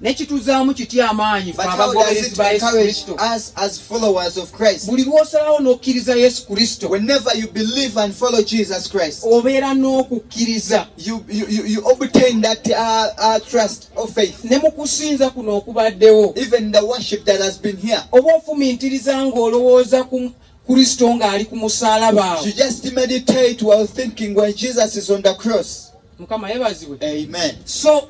nekituzaamu kitya amaanyi fe abagoberezi ba yesu kristo buli lw'osalawo n'okkiriza yesu kristo obeera n'okukkiriza uh, uh, ne mu kusinza kuno okubaddewo oba ofumintiriza ng'olowooza ku kristo ng'ali ku musaalaba mukama yebazibwe so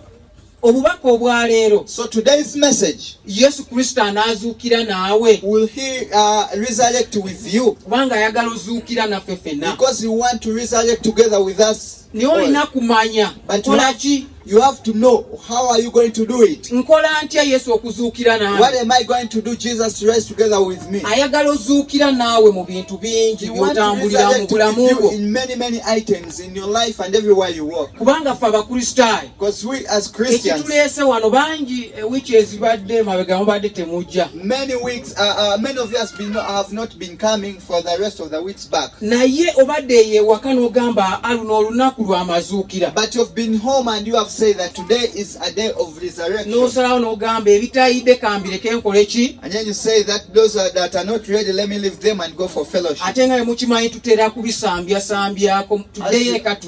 obubaka obwa leero so today's message yesu kristo anaazuukira naawe will he uh, resurrect with you kubanga ayagala ozuukira naffe fenna because he want to resurrect together with us naye olina kumanya kolaki You have to know how are you going to do it. Nkola ntya Yesu okuzuukira naawe? What am I going to do Jesus to rise together with me? Ayagala ozuukira naawe mu bintu bingi by'otambulira mu bulamu bwo. In many many items in your life and everywhere you walk. Kubanga ffe Abakristaayo ekituleese wano bangi ewiiki eh, ezibadde emabega mubadde temujja naye obadde eyo ewaka n'ogamba aluno ah, olunaku lw'amazuukira n'osalawo n'ogamba ebitayidde kambireke nkole ki ate nga emukimanyi tutera kubisambyasambyakotudeyo ekatu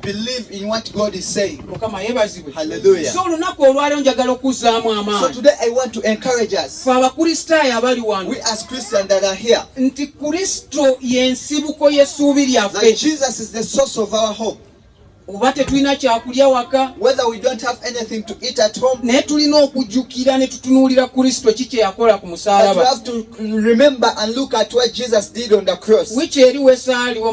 believe in what God is saying. Mukama yebazibwe. Hallelujah. So olunaku olwaleero njagala okuzzaamu amaanyi. So today I want to encourage us. Ffe abakristaayo abali wano. We as Christians that are here. Nti Kristo y'ensibuko y'essuubi lyaffe. That Jesus is the source of our hope. oba tetulina kyakulya waka naye tulina okujjukira ne tutunuulira kristo ki kye yakola ku musaalaba wiiki eri wesaaliwo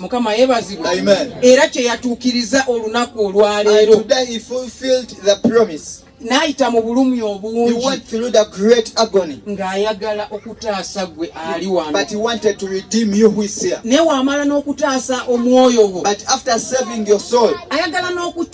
mukama yebazibwa era kyeyatuukiriza olunaku olwaleero n'ayita mu bulumi obungi ng'ayagala okutaasa gwe ali wano naye wamala n'okutaasa omwoyo gwo ayagala n'oku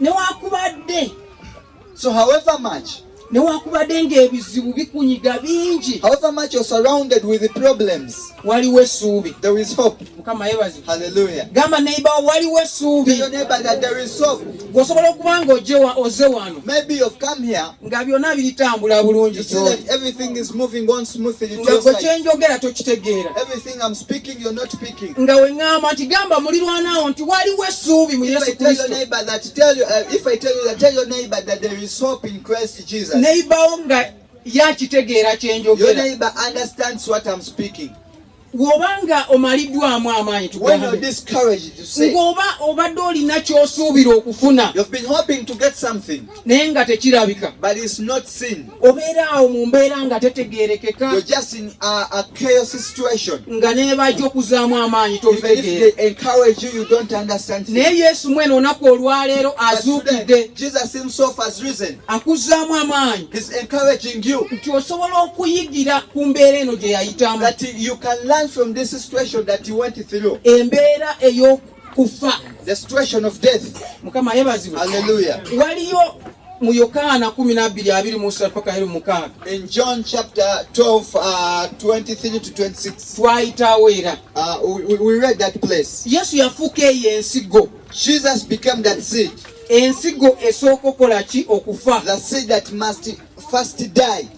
newakubadde so however much newakubadde ng'ebizibu bikunyiga bingi however much you're surrounded with the problems waliwo essuubi there is hope mukama yebazi hallelujah gamba neighbor waliwo essuubi your neighbor that there is hope gwosobola okuba ng'ojewa oze wano maybe you've come here nga byonna biritambula bulungi everything is moving on smoothly nga gwe kyenjogera tokitegeera nga weŋŋamba nti gamba mulirwanaawo nti waliwo essuubi mu yesu kristoneyibawo nga yakitegeera kye njogera woba nga omaliddwamu amaanyi ng'oba obadde olina ky'osuubira okufuna naye nga tekirabika obeera awo mu mbeera nga tetegerekeka nga nebajja okuzaamu amaanyi tobitegeeranaye yesu mwene onaku olwaleero azuukidde akuzaamu amaanyi nti osobola okuyigira ku mbeera eno gye yayitamu embeera eyoku kufa the situation of death mukama yebazibwe hallelujah waliyo mu yokaana kumi nabbiri abiri musa paka eri mukaaga in john chapter 12 uh, 23 to 26 twayitawo era uh, we, we read that place yesu yafuuka eyo ensigo jesus became that seed ensigo esooka okola ki okufa the seed that must first die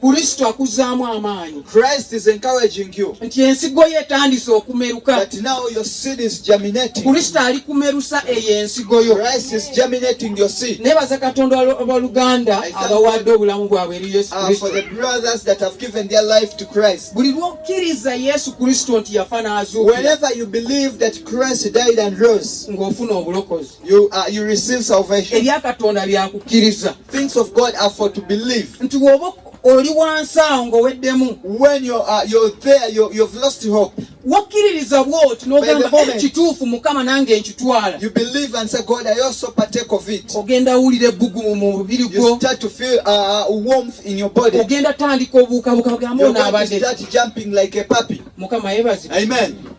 Kristo akuzaamu amaanyi. Christ is encouraging you. Nti ensigo ye etandise okumeruka. That now your seed is germinating. Kristo ali kumerusa eyo ensigo yo. Christ is germinating your seed. Nebaza Katonda abaluganda abawadde obulamu bwabwe eri Yesu ah, Kristo. For the brothers that have given their life to Christ. Buli lw'okkiriza Yesu Kristo nti yafa n'azuukira. Whenever you believe that Christ died and rose. Ng'ofuna obulokozi. You, uh, you receive salvation. Ebya Katonda byakukkiriza. Things of God are for to believe. Nti woba oli wansi awo ng'oweddemu. When you're, uh, you're there, you're, you've lost hope. Wakkiririza bw'oti n'ogamba eh, kituufu Mukama nange nkitwala. You believe and say God I also partake of it. Ogenda wulira ebbugumu mu mubiri gwo. You start to feel uh, uh warmth in your body. Ogenda tandika obuukabuuka bw'ambo n'abadde. You start jumping like a puppy. Mukama yebazibwe. Amen.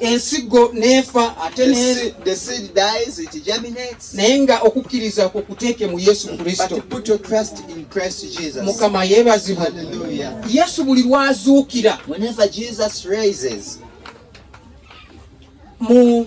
ensigo n'efa ate naye nga okukkiriza kwo kuteeke mu yesu kristo mukama yeebazibwe yesu buli lwazuukira mu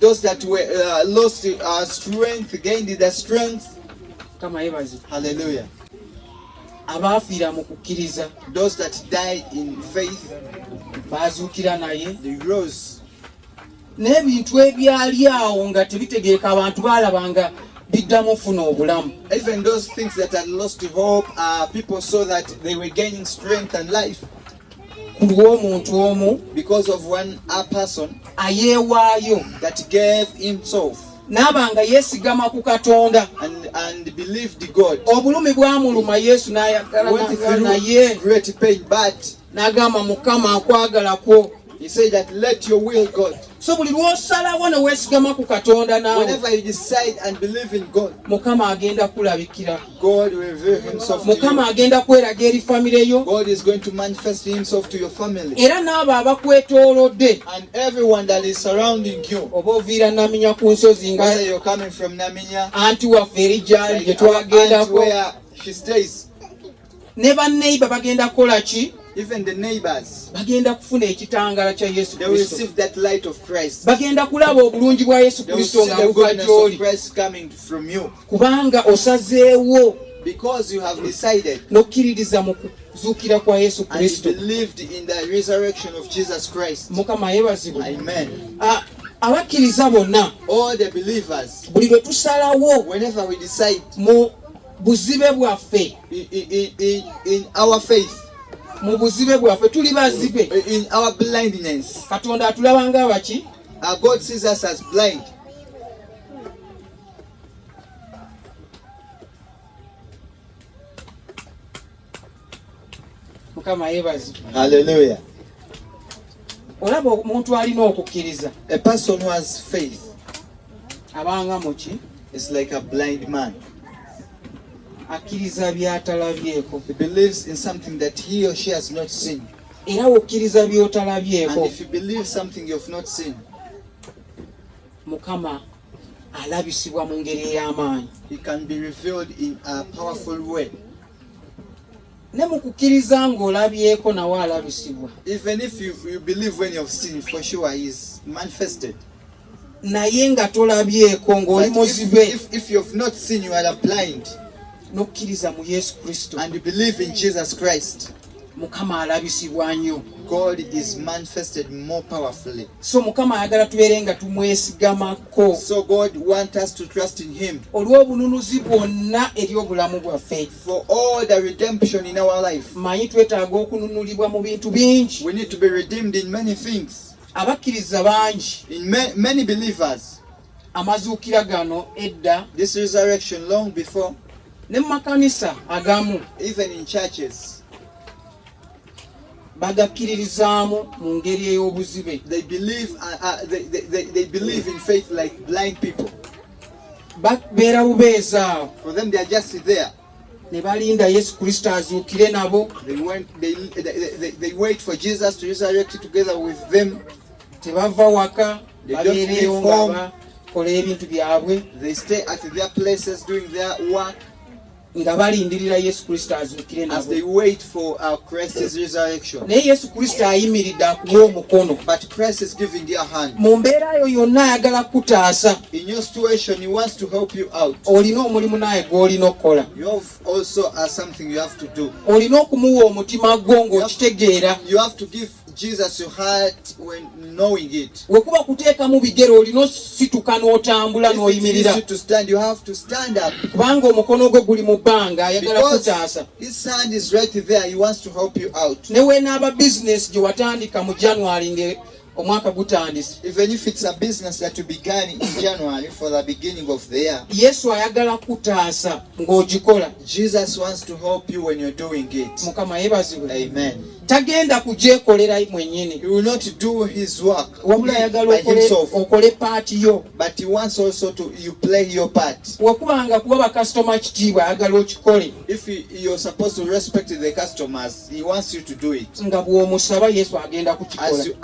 Those that were uh, lost uh, strength gained their strength. Kama yebazi. Hallelujah. Abafiira mu kukkiriza. Those that died in faith. Bazuukira naye. They rose. N'ebintu ebyali awo nga tebitegeeka abantu baalabanga biddamu funa obulamu. Even those things that had lost hope, uh, people saw that they were gaining strength and life. ku lw'omuntu omu because of one a person ayeewaayo that gave himself n'aba nga yeesigama ku katonda and, and believed God obulumi bwamuluma yesu n'ayagalaa naye great pain but n'agamba mukama nkwagala kwo he said that let your will God so buli lwosalawo ne weesigama ku katonda nawe mukama agenda kulabikira mukama agenda kweraga eri famire yo era n'abo abakwetoolodde oba oviira naminya ku nsozi nga anti waffe eri gyali gye twagendako ne banneiba bagenda kukola ki even the neighbors bagenda kufuna ekitangala kya yesu they will receive that light of christ bagenda kulaba obulungi bwa yesu kristo nga buva gyoli kubanga osazeewo because you have decided nokkiririza mu kuzuukira kwa yesu kristo mukama yebazibwe amen ah, abakkiriza bonna buli lwe tusalawo mu buzibe bwaffe in, in, in, in our faith mu buzibe bwaffe tuli bazibe in our blindness katonda atulaba nga abaki uh, god sees us as blind mukama yebazi haleluya olaba omuntu alina okukkiriza a person who has faith abanga muki is like a blind man akkiriza byatalabyeko he believes in something that he or she has not seen era wokkiriza byotalabyeko and if you believe something you have not seen mukama alabisibwa mu ngeri ey'amaanyi he can be revealed in a powerful way ne mu kukkiriza ng'olabyeko nawe alabisibwa even if you, you believe when you have seen for sure he is manifested naye nga tolabyeko ng'oli muzibe if, if, if you have not seen you are blind n'okkiriza mu yesu kristo and you believe in jesus christ mukama alabisibwa nnyo god is manifested more powerfully so mukama ayagala tubeere nga tumwesigamako so god want us to trust in him olw'obununuzi bwonna eri obulamu bwaffe for all the redemption in our life manyi twetaaga okununulibwa mu bintu bingi we need to be redeemed in many things abakkiriza bangi in ma many believers amazuukira gano edda this resurrection long before ne mu makanisa agamu even in churches bagakkiririzaamu mu ngeri ey'obuzibe they believe, uh, uh, they, they, they, they believe in faith like blind people babeera bubeeza awo for them they are just there ne balinda yesu kristo azuukire nabo they, went, they, they, they, they wait for jesus to resurrect together with them tebava waka babeereewo nga bakola ebintu byabwe nga balindirira yesu kristo azuukire naye yesu kristo ayimiridde akuwa omukono mu mbeera yo yonna ayagala kukutaasa olina omulimu naye gw'olina okukola uh, olina okumuwa omutima gwo ng'okitegeera Jesus your heart when knowing it. Wekuba kuteekamu bigere olina osituka n'otambula n'oyimirira. If it is to stand, you have to stand up. Kubanga omukono gwo guli mu bbanga ayagala kutaasa. His hand is right there, he wants to help you out. Ne weenaaba business gye watandika mu January nge omwaka gutandise. Even if it's a business that you began in January for the beginning of the year. Yesu ayagala kutaasa ng'ogikola. Jesus wants to help you when you're doing it. Mukama yebazibwe. Amen. tagenda kugyekolera mwenyini wabula ayagala okole paati yo wakubanga kuba bakasitoma kitiibwa ayagala okikole nga bw'omusaba yesu agenda kukikolayesu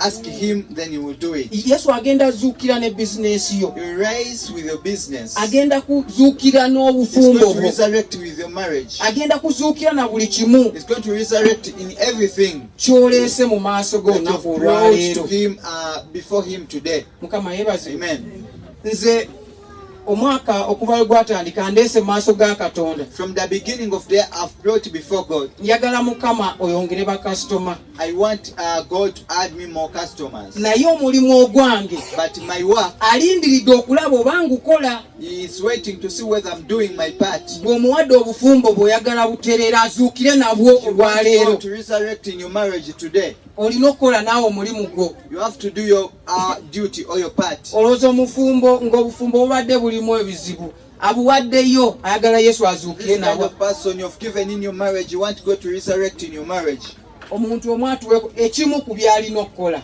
agenda azuukira ne bizinesi yo agenda kuzuukira n'obufumbo bwo agenda kuzuukira na buli kimu going to resurrect in everything. Kyoleese mu maaso go na olwaleero. Him uh, before him today. Mukama yebazi. Amen. Nze omwaka okuva we gwatandika ndeese mu maaso ga Katonda. From the beginning of the year I've brought before God. Njagala Mukama oyongere ba customer. I want uh, God to add me more customers. Naye omulimu ogwange. But my work. Alindiridde okulaba obanga ukola. gwe omuwadde obufumbo bw'oyagala butereera azuukire nabwo olwaleero olina okukola naawe omulimu gwo uh, olowooza omufumbo ng'obufumbo bubadde bulimu ebizibu abuwaddeyo ayagala yesu azuukire nabwo omuntu omu atuwe ekimu ku by'alina okukola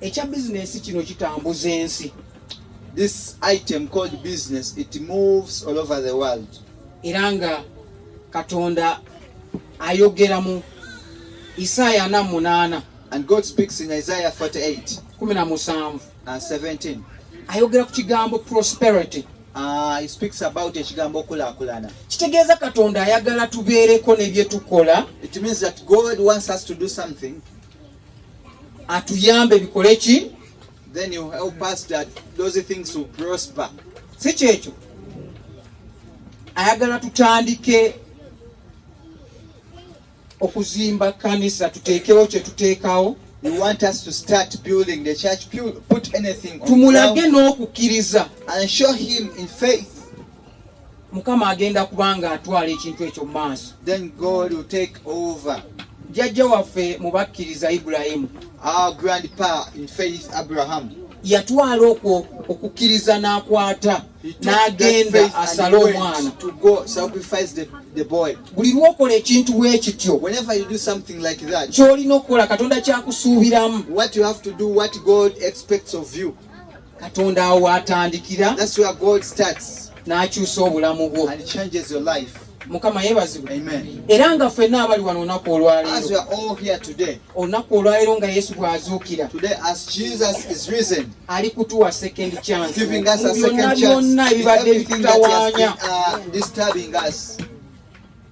ekya bizinensi kino kitambuza ensi this item called business it moves all over the world era nga katonda ayogera mu isaaya ana munaana and god speaks in isaiah 48 kumi na musanvu and 17 ayogera ku kigambo prosperity Uh, he speaks about ekigambo okulakulana kitegeeza katonda ayagala tubeereko nebyetukola it means that god wants us to do something atuyambe bikole ki then you help us that those things will prosper si kyekyo ayagala tutandike okuzimba kanisa tuteekewo kyetuteekawo He wants us to start building the church, put anything on tumulage n'okukkiriza and show him in faith mukama agenda kubanga atwala ekintu ekyo mu maaso then god will take over jjajja waffe mu bakkiriza ibulayimu our grandpa in faith abraham yatwala okwo okukkiriza n'akwata n'agenda asale omwana buli lwokola ekintu bwe kityo ky'olina okukola katonda kyakusuubiramu katonda awo watandikira n'akyusa obulamu bwo mukama yebazibwe era nga ffenna abali wano olunaku olwaleero olunaku olwaleero nga yesu bw'azuukira ali kutuwa second chance byonna byonna ebibadde bitutawanya uh,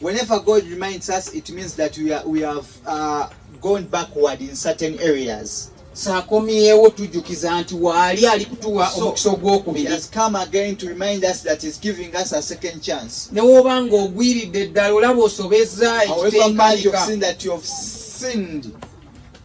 Whenever God reminds us, it means that we, are, we have uh, gone backward in certain areas. sakomyewo tujjukiza nti waali ali kutuwa omukisa ogwokubiri ne woba nga ogwiridde ddala olaba osobezza ekitengayika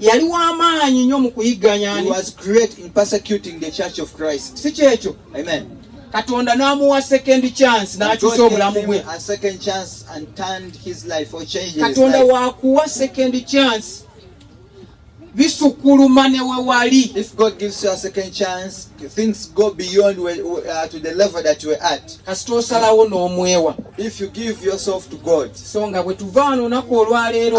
yali w'amaanyi nnyo mu kuyigganya si kyekyo katonda n'amuwa second chance n'akyusa obulamu bwe katonda wakuwa second chance bisukuluma ne we wali kasita osalawo n'omwewa so nga bwe tuva wano olunaku olwaleero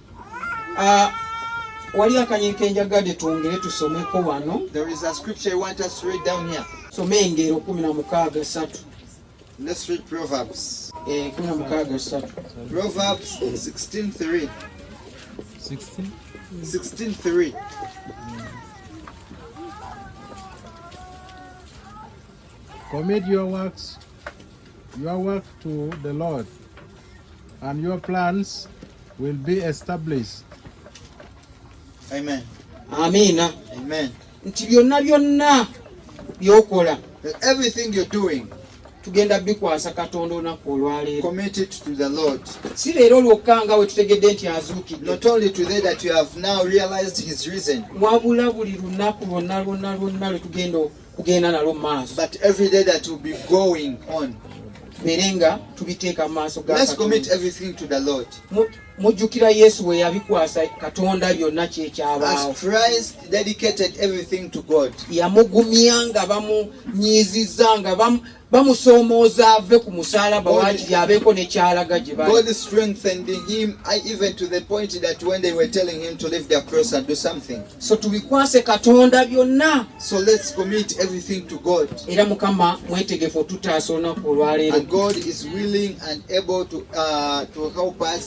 Uh, wali akanyi kenjagade twongere tusomeko wano soma engero kumi na mukaaga satu eh, kumi na mukaaga satu Commit your works, your work to the Lord, and your plans will be established. Amen. Amina. Amen. Nti byonna byonna byokola. Everything you're doing. tugenda bikwasa katonda olunaku olwaleero si leero lwokka nga we tutegedde nti azuukidewabula buli lunaku lwonna lwonna lwonna lwe tugenda kugenda nalwo maaso but every day that will be going on tubeere nga tubiteeka mu maaso galord mujjukira yesu we yabikwasa katonda byonna kyekyabaawo yamugumya nga bamunyiiziza nga bamusoomooza ave ku musalaba wakiri abeeko nekyalaga gye so tubikwase katonda byonna so let's commit everything to god era mukama mwetegefu otutaasa olunaku olwaleero god is willing and able to, uh, to help us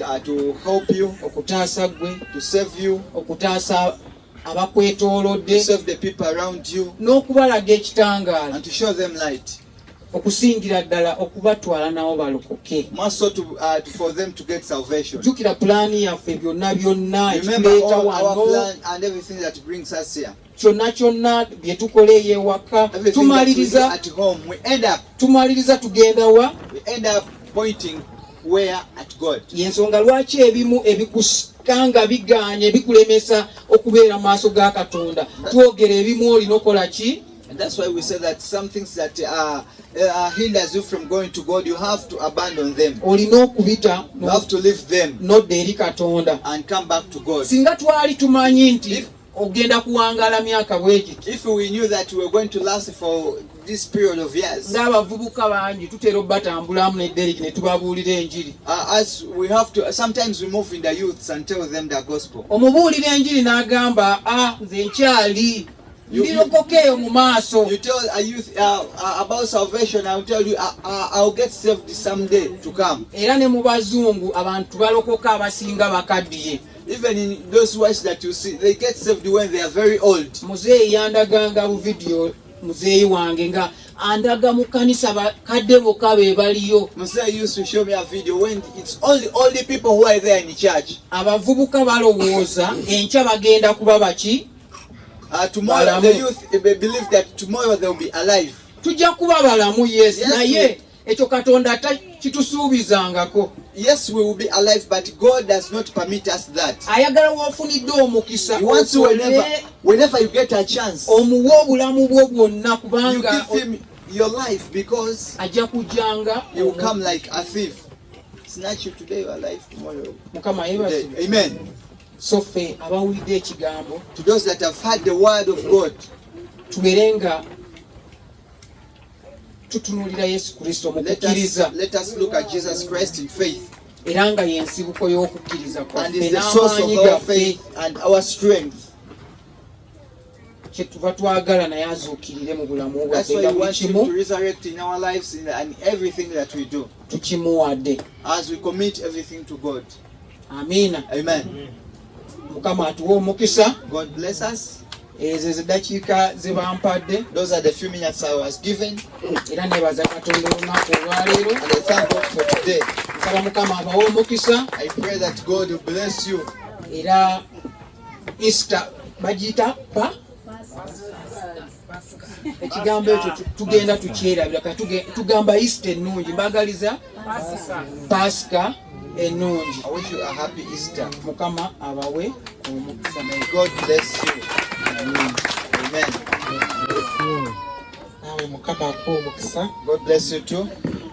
uh, to help you okutaasa gwe to save you okutaasa abakwetoolodde save the people around you n'okubalaga ekitangaala and to show them light okusingira ddala okubatwala nawo balokoke uh, jukira pulaani yaffe byonna byonna ekituleeta wano kyonna kyonna bye tukola ey'ewaka tumaliriza tumaliriza tugenda wa y'ensonga lwaki ebimu ebikusanga bigaanye bikulemesa okubeera mu maaso ga katonda twogera ebimu olina okola ki And that's why we say that some things that uh, uh, hinders you from going to God, you have to abandon them. You have to leave them and come back to God. ogenda kuwangaala myaka bwegiti if we knew that we were going to last for this period of years ng'abavubuka bangi tutera obatambulamu ne Derek ne tubabuulira enjiri uh, as we have to sometimes we move in the youths and tell them the gospel omubuulira enjiri n'agamba ah nze nkyali ndirokoka eyo mu maaso you tell a youth uh, uh, about salvation i'll tell you uh, uh, i'll get saved someday to come era ne mu bazungu abantu balokoka abasinga bakaddiye Even in those wives that you see, they get saved when they are very old. Muzeeyi yandaganga bu video muzeeyi wange nga andaga mu kanisa bakadde bokka be baliyo. Muzeeyi used to show me a video when it's only all the people who are there in the church. Abavubuka balowooza enkya bagenda kuba baki? Uh, tomorrow the youth they believe that tomorrow they will be alive. Tujja kuba balamu yes, yes naye ekyo katonda ata kitusuubizangako yes we will be alive but god does not permit us that ayagala wofunidde omukisa whenever you get a chance omuwa obulamu bwo bwonna kubanga your life because ajja kujanga you will come like a thief snatch you today your life tomorrow mukama yebasi amen so fe abawulidde ekigambo to those that have heard the word of god tuberenga tutunulira yesu kristo mu kukkiriza era nga yensibuko y'okukkiriza kwaffe n'amaanyi gaffe kyetuva twagala naye azuukirire mu bulamu bwafenga buli kimu tukimuwadde Amina. Amen. Mukama atuwe omukisa. God bless us. Ezo ezidakiika ze bampadde. Those are the few minutes I was given. Era nebaza Katonda olunaku olwaleero. And I thank God for today. Nsaba Mukama abawe omukisa. I pray that God will bless you. Era Easter bagiyita pa ekigambo ekyo tugenda tukyerabira ka tugamba isita ennungi mbagaliza pasika ennungi mukama abawe omukisa nawe mukama akuwa omukisa